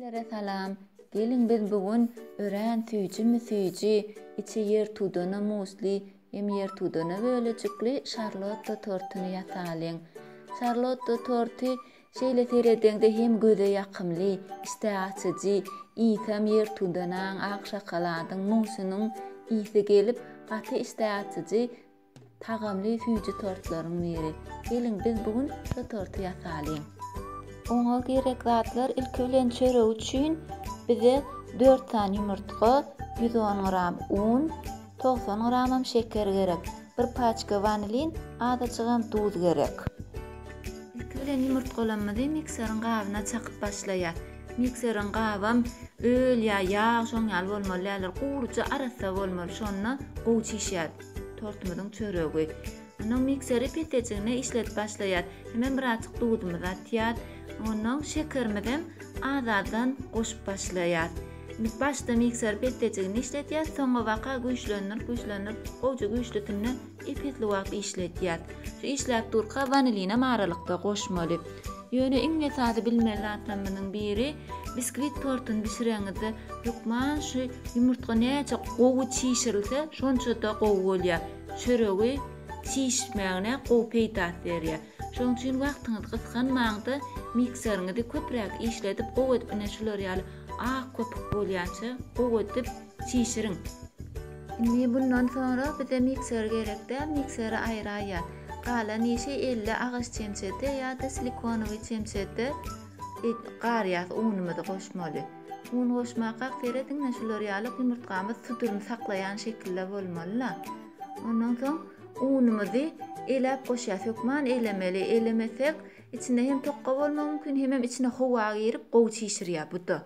Hemmelere salam. Geliň biz bu gün örän süýjimi süýji, içi ýertudana musli hem ýertudana bölejikli şarlotta tortuny ýasalyň. Şarlotta torty şeýle seredeňde hem göze ýakymly, işdä açyjy, iýsem ýertudanaň, ak şokoladyň, musynyň ysy gelip, gaty işdä açyjy, Tagamly süýji tortlaryň biri. Geliň biz bu gün şu torty ýasalyň. Oňa gerek zatlar ilki bilen çörek üçin bize dört sany ýumurtga, ýüz on gram un, togsan gramam şeker gerek. Bir paçka wanilin, azajygam duz gerek. Ilki bilen ýumurtgalamyzy mikseriň gabyna çakyp başlaýas. Mikseriň gabam öl ýa ýag şoň ýaly bolmaly däldir. Guryja arassa bolmaly şonda gowy çişýär. Tortumyzyň çöregi. Onnoň mikseri petejigine işledip başlaýas. Hemem birazjyk duzumyzy atýas. Onnoň şekerimizem az-azdan goşup başlaýas. Biz başda mikser petejigini işledýas, soňabaka güýçlendirip-güýçlendirip gowja güýçlüsinde ep-esli wagt işledýas. Şu işläp durka wanilinem aralykda goşmaly. Ýöne iň esasy bilmeli zatlarymyzyň biri, biskwit tortuny bişireňizde hökman şu ýumurtga näçe gowy çişirilse şonçada gowy bolýar. Çöregi çişmegine gowy peýdasy berýär. Şoň üçin wagtyňyz gysganmaňda mikseriňizi köpräk işledip gowy edip ine şular ýaly ak köpük bolýança gowy edip Çişiriň. Indi bundan soňra bize mikser gerek däl, mikseri aýraýýar. Galan işi elde agaç çemçede ýa-da silikonowy çemçede garýas unumyzy goşmaly. Un goşmakak serediňne şular ýalyk ýumurtgamyz suduryny saklaýan şekilde bolmalyla. Ondan soň unumyzy eläp goşýas. Hökman elemeli, elemesek içinde hem tokga bolmak mümkin hemem içine howa girip gowy çişirýär buda.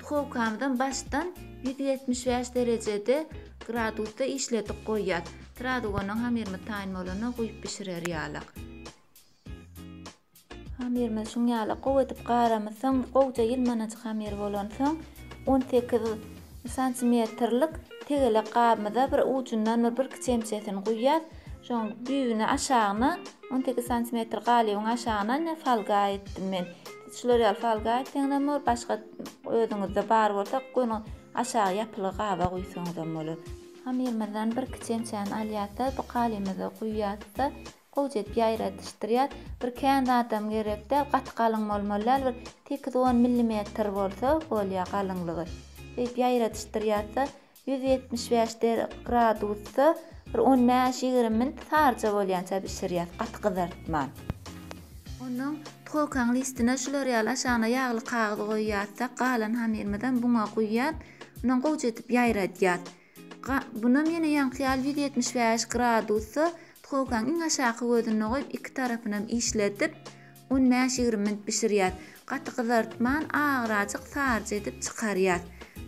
Duhowkamyzam başdan ýüz ýetmiş bäş derejede gradusda işledik goýýas. Srazu ondan hamyrymyz taýyn bolana guýup bişirer ýalyk. Hamyrymyz şuň ýaly gowy edip garamyzsoň, gowja ýylmanajyk hamyr bolansoň, on sekiz santimetrlik tegelek gabymyza bir ujundan bir birki çemçesini guýýas. Şoň düýbüne aşagyna on sekiz santimetr galybyň aşagyna ine folga etdim men. Uçlar ýaly salgaýyp seňňem bor, başga özüňizde bar bolsa göni aşagy ýapyly gaba guýsaňyzam bolar. Hamyrymyzdan birki çemçäni alýas-da, bu galymyza guýýas-da, gowja edip ýaýradyşdyrýas. Bir kän zadam gerek däl, gaty galyň bolmaly däl, bir sekiz-on millimetr bolsa bolýar galyňlygy. Şeýdip ýaýradyşdyrýas-da, Ýüz ýetmiş bäş gradusda bir on bäş, ýigrimi minut sarja bolýança bişirýäs, gaty gyzartman. Ondan tkolkaň listine şular ýaly aşagyna ýagly kagyz goýýarsak, galan hamyrymyzam buna guýýan. Ondan gowja edip ýaýradýas. Bunam ýene ýaňky ýaly ýüz ýetmiş bäş gradusda tkolkaň iň aşaky gözünde goýup, iki tarapynam işledip, On bäş ýigrimi minut bişirýäs. Gaty gyzartman, agrajyk saryja edip çykarýas.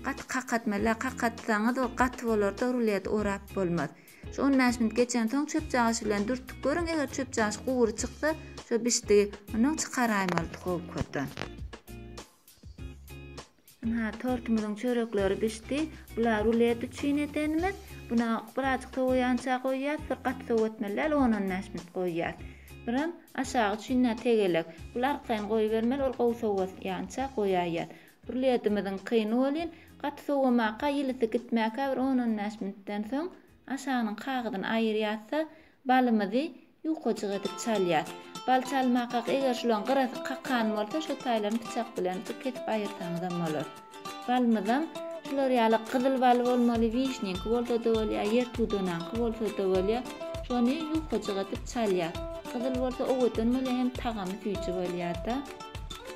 Gaty kakatma-la, kakatsaňyz ol gaty bolar-da ruleti orap bolmaz. Şu on bäş minut geçensoň çöpjagaşy bilen dürtüp görüň, eger çöpjagaş gury çyksa, şo bişdigi, onnoň çykaraýmaly duhowkadan. Ynha, tortumyzyň çörekleri bişdi. Bula rulet üçin edenimiz. Buna birazjyk sowaýança goýýas, bir gaty sowatmaly däl, on-on bäş minut goýýas. Biram aşagy üçin-ä tegelek. Bul arkaýyn goýbermeli, ol gowy sowaýança goýaýýas. Ruletimiziň kyny welin, gaty sowamaka, ýylysy gitmäkä bir on-on bäş minutdan soň aşagynyň kagyzyny aýyrýas-da, Balymyzy ýukajyk edip çalýas. Bal çalmakak eger şulaň gyrasy kakan bolsa şo taýlaryny pyçak bilen bir kesip aýyrsaňyzam bolar. Balymyzam şular ýaly gyzyl bal bolmaly wişniňki bolsada bolýa ýer tudanaňky bolsada bolýa şony ýukajyk edip çalýas. Gyzyl bolsa owadan bolýa hem tagamy süýji bolýada.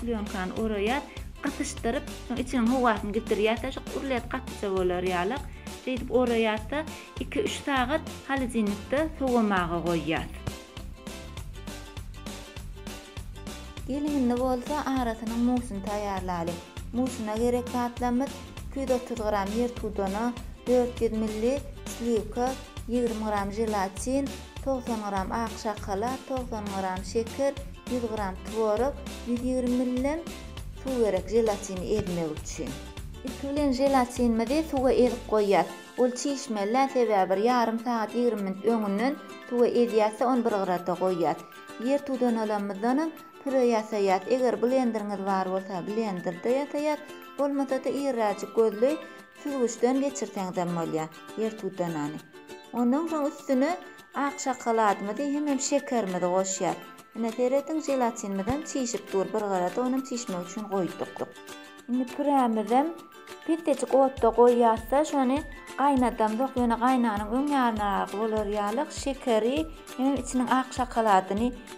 Plýonkany oraýas, gysyşdyryp, soň içiniň howasyny gidirýäs-de, şu gurlet gatyja bolar ýalyk, şeýdip oraýas-da, iki-üç sagat holodilnikde sowamaga goýýas. Geliň, indi bolsa arasynyň musyny taýýarlalyň. Musyna gerek zatlarymyz, iki ýüz otuz gram ýertudana, dört ýüz ml sliwka, ýigrimi gram želatin, togsan gram ak şokolad, togsan gram şeker, ýüz gram tworog, ýüz ýigrimi ml-lem suw gerek želatini ezmek üçin. Ilki bilen želatinimizi suwa ezip goýýas. Ol çişmeli-dä, sebäbi bir ýarym sagat, ýigrimi minut öňünden suwa ezýäs-de, ony bir gyrada goýýas. Ýer tudanalaymyzdanam püre ýasaýas. Eger blenderiňiz bar bolsa, blenderda ýasaýas, bolmasa-da irräjik gözli Süzgüçden geçirseňizem bolýar ýer tudanany. Ondan soň üstüne ak şokoladymyzy hemem şekerimizi goşýas. Ine serediň želatinimizem çişip dur bir garada onam çişmek üçin goýduk. Indi pürämizem petejik otda goýýasda şony gaýnadamzok ýöne gaýnanyň öň ýarynaragy bolar ýaly şekeri hemem içiniň ak şokoladyny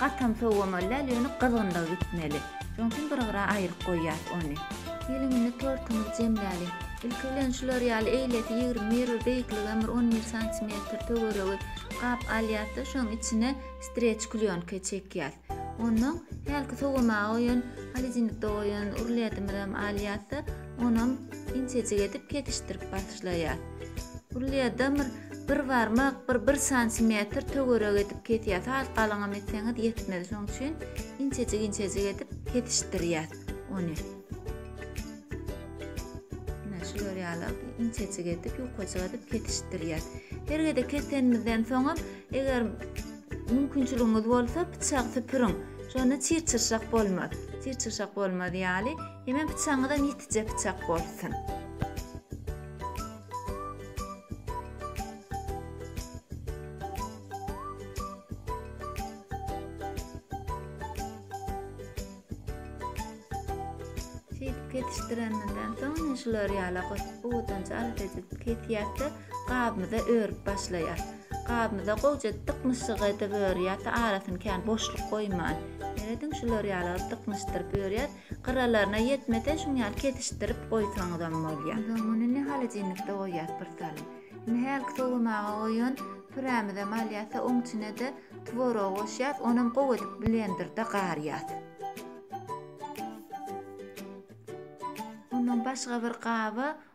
Gatam sowamaly däl, ýöne gyzgynlygy gitmeli. Şonuň üçin bir gyra aýryp goýýas ony. Geliň indi tortumyzy jemläliň. Ilki bilen şular ýaly eýlesi ýigrimi bir beýiklige bir on bir santimetr töweregi gap alýas-da, şoň içine streç klýonka çekýäs. Onnoň hälki sowamaga goýan, holodilnikde goýan ruledimizem alýas-da, Onam inçejik edip kesişdirip başlaýar. Gulýadamyr bir barmak, bir bir santimetr töwerek edip kesýär. Sal galyňam etseňiz ýetmez. Şonuň üçin inçejik-inçejik edip kesişdirýär ony. Ine şu görýärler, inçejik edip, ýukajyk edip kesişdirýär. Her gezek kesenimizden soňam, eger mümkinçiligiňiz bolsa, pyçagy süpüriň. Şonda çir-çyrşak bolmaz. Çir-çyrşak bolmaz ýaly. Ýeme pyçagyňyzam ýetije pyçak bolsun. Şeýdip kesişdireninden soň ine şular ýala gowudanç alat edip kesýäs-de gabymyza örüp başlaýas. Gabymyza gowja dyknyşyk edip örýäs, arasyny kän boşluk goýman. Ýerediň şular ýala dyknyşdyryp örýäs. Gyralaryna ýetmese şuň ýaly kesişdirip goýsaňyzam bolýar. Soň muny indi holodilnikde goýýas bir salym. Indi hälki sowamaga goýan pürämizem alýas da oň içine-de tworogy goşýas, onam gowy edip blenderde garýas. Ondan başga bir gaba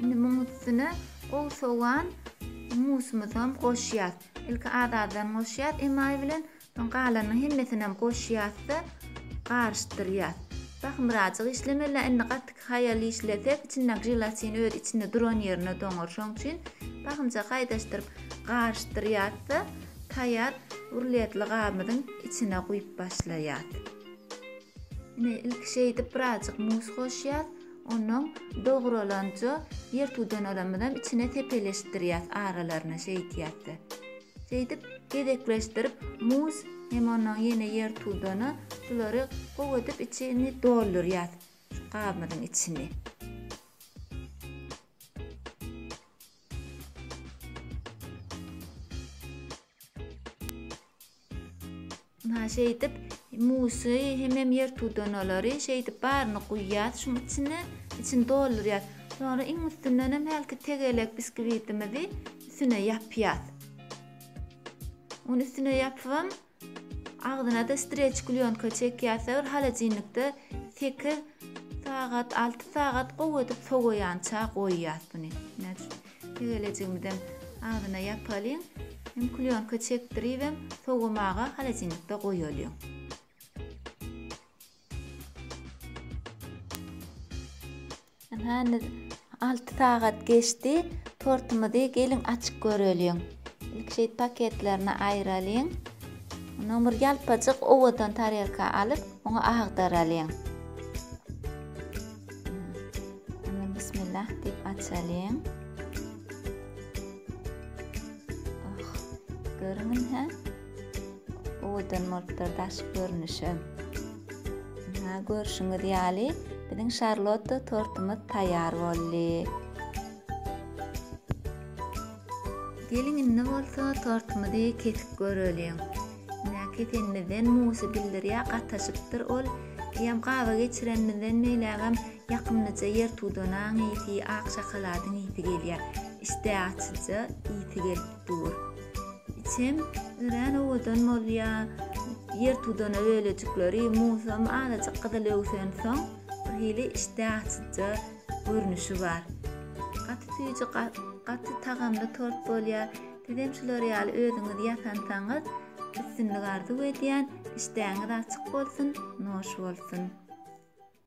Indi muň üstüne gowy sowan musumyzam goşýas. Ilki az-azdan goşýas emaý bilen, soň galanyny hemmesinäm goşýas-da garyşdyrýas. Sahy birazjyk işlemeli, indi gaty haýal işlesek, içindäki želatin öz içinde duran ýerine doňar. Şoň üçin sahymjak haýdaşdyryp garyşdyrýas-da, taýýar rulletli gabymyzyň içine guýup başlaýas. Ine, ilki şeýdip birazjyk mus goşýas, onnoň dogralanja ýer tudanalaymyzam içine sepeleşdirýäs aralaryna şeýdýäs-de. Şeýdip gezekleşdirip mus hem onnoň ýene ýer tudana şulary gowy edip içini doldurýas şu gabymyzyň içini. Ha şeýdip musy hemem ýer tudanalary şeýdip baryny guýýas şuň içine içini doldurýas. Soňra iň üstünden hem hälki tegelek biskvitimizi üstüne ýapýas. Ony üstüne ýapyp agzyna da streç klýonka çekýas bir holodilnikde 8 sagat 6 sagat gowy edip sowaýança goýýas buny. Tegelejigimizem agzyna ýapalyň. Hem klýonka çekdiribem sowamaga holodilnikde goýalyň. Ynha indi alty sagat geçdi. Tortumyzy geliň açyp göreliň. Ilki şeýdip paketlerini aýralyň. Ondan bir ýalpajyk owadan tarelka alyp, oňa agdaralyň. Indi bismillah diýip açalyň. Oh, görüňiz hä? Owadan bolupdyr daş görnüşi. Ha, görşüňiz ýaly, biziň şarlotta tortumyz taýýar boldy. Geliň indi bolsa tortumyzy kesip göreliň. Ine, ketenimizden Musy bildirýär, gataşypdyr ol. Eýýäm gaba geçirenimizden beýlägem ýakymlyja ýertudanaň ysy, ak şokoladyň ysy gelýär. Işdä açyja ysy gelip dur. Içem örän owadan bolýar. Ýertudana bölejikleri Musam azajyk gyzyl öwsensoň, birhili işdä açyja görnüşi bar. Gaty süýji, gaty tagamly tort bolýar. Sizem şular ýaly özüňiz ýasansaňyz üstünlik arzuw edýän, işdäňiz açyk bolsun, noş bolsun.